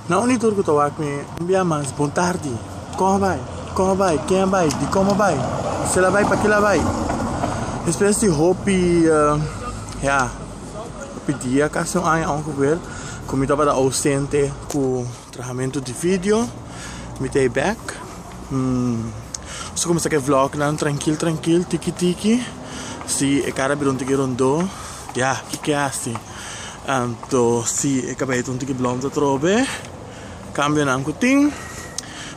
Na uni tur ku ta wak mi un bia mas bon tardi koh bai koh a bai ken a bai di komo bai kel a bai pakila bai despues di hopi ya hopi dia kasi un aña awo kuber ku mi tabata ausente ku trahamentu di video mi ta e bek mi ta kuminsá ku e vlognan trankil trankil tiki tiki si e kara bira un tiki rondó ya kiko a hasi. Anto si e kabeit untu ki blom ta trobe, kambionan ku tin.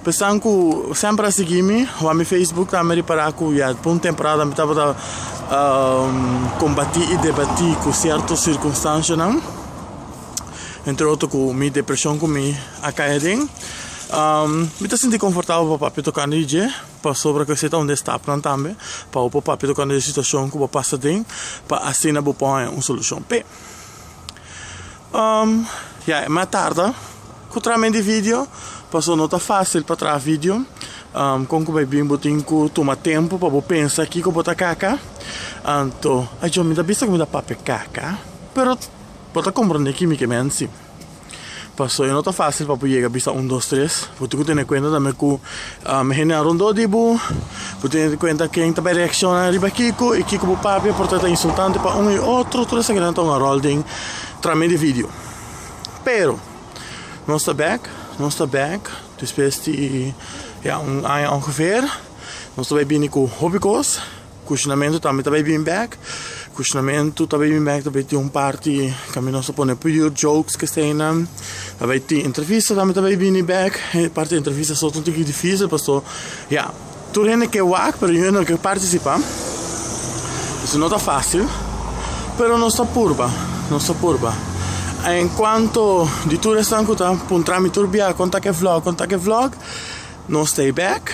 Pe esan ku semper a sigui mi, wan mi Facebook ta mi ripará ku ya pa un temporada mi tabata kombatí i debatí ku sierto sirkunstansianan, entre otro ku mi depreshon ku mi a kai aden. Mi ta sinti konfortabel papia tokante di dje. pasobra cu esey ta unda e stap nan tambe pa bo por papia tocante e situacion cu bo a pasa den pa asina bo por haya un solucion. Pe, um, ya, mi a tarda cu traha mi di video, pasobra no ta facil pa traha video, um, con cu bai bin bo tin cu tuma tempo pa bo pensa kico bo ta kaka, anto, ajo, mi ta bisa cu mi ta papia kaka, pero bo ta comprende kimi ke mi a nci. Pasobra e no ta fásil pa bo yega bisa un dos tres. Bo tin ku tene kuenta tambe ku e hendenan rondó di bo. Bo tin tene kuenta ken ta bay reaksiona riba kiko i kiko bo papia por ta ta insultante pa un i otro. Tur esakina ta un ròl den trami di vidio. Pero, nos ta bèk, nos ta bèk despues di, ya, un aña ongever. Nos ta bay bini ku hopi kos. Cushionamentu tambe ta bay bin bek. Cushionamentu ta bay bin bek, ta bay tin un parti camey nos ta pone puyur jokes kestenan. Ta bay tin entrevista tambe ta bay bini bek. E parti di entrevista so ta un tiki dificil paso ya, tur hende ke wak pero yu hende no ke participa. Entonces no ta facil, pero nos ta purba, nos ta purba. En cuanto di tur esnan cu ta puntra mi tur bia con ta ke vlog, con ta ke vlog, no stay back.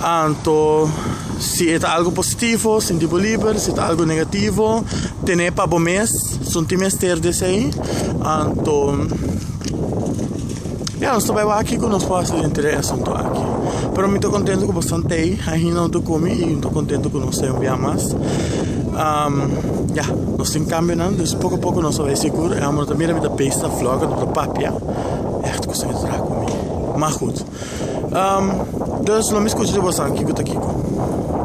Anto, si e ta algu positivo, sinti bo liber, si ta algu negativo, tene pa bo mes, sunti mester di esei. Anto, ya, nos ta bai wak ku nos por hasi denter e asuntu aki. Pero mi ta kontento ku bastantei ahinda no ta komi i mi ta kontento ku nos ta yon bia mas. Ya, nos tin kambionan, dus poko a poko nos ta bai sigur. E amu no ta mira mi ta pesta, floka, no ta papia. Ègt kusami ta traha ku mi. Mas gud. Am, dus lo mi skucha di bosanki ku ta kiko.